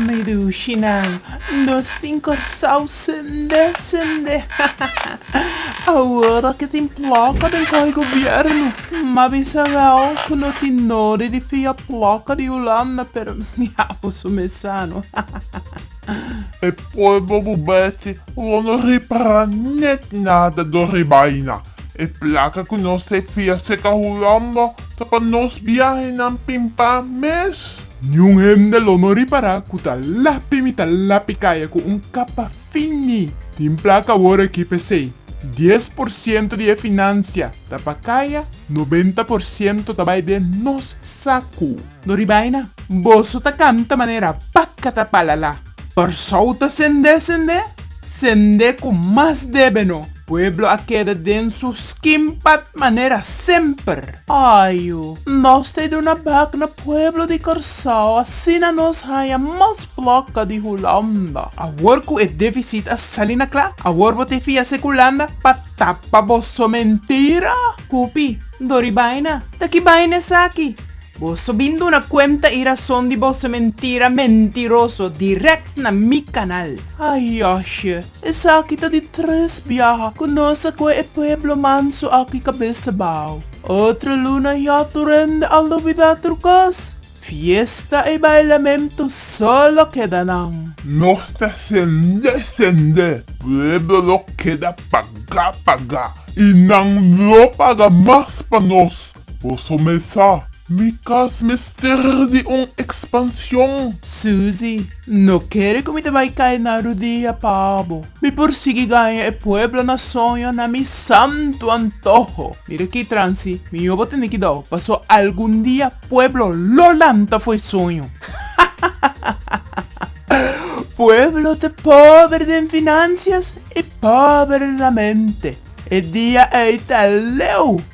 Meduchinan, nos tin Kòrsou sende sende, awor ke tin plòkka den kohe gobièrnu, ma bisa wèl ku no tin nodi di fia plòkka di Hulanda, pero mi abo su mesano. E polvo bubeti lo no ripará nèt nada dor e baina. E plaka ku nos ta e fia seka hurombo ta pa nos biahenan pimpá mes. Niun hende lo no ripará ku ta lapi mi ta lapi kaya ku un kapa fin mi. Tin plaka awor aki p'esei, dies por siento di e finansia ta pa kaya, nobenta por siento ta bai den nos saku. No ribai na. Boso ta canta manera paca ta pala la. Persou ta sende sende, sende cu mas debe no. Pueblo a keda den su skin pat manera semper. Ajo, nos ta e duna bak na pueblo di Corsou asina nos haya mas placa di Hulanda. Awor cu e deficit a sali na cla, awor bo te fia se cu Hulanda pa tapa boso mentira? Pupi, No ribai na. Ta ki bai na esaki? Boso bin duna cuenta y razon di boso mentira mentiroso direct na mi canal. Ay yashie, esaki ta di tres biaha cu nos a coe e pueblo manso aki cabesa bao. Otro luna ya tur hende a lubida tur cos. Fiesta y bailamento solo keda nan. Nos ta sende, sende, pueblo lo keda paga, paga y nan lo paga mas pa nos. Bo somer sa. Mi cas mester di un expansion. Suzy, No kere cu mi ta bay cay na rudia pa bo. Mi por sigui gaña e pueblo na soño na mi santo antoho. Mira aki, Trancy, mi yo bo tene ki dao, paso algun dia pueblo lo lanta fo'i soño. Pueblo ta pober den financias y pober na mente. E dia ey ta leu.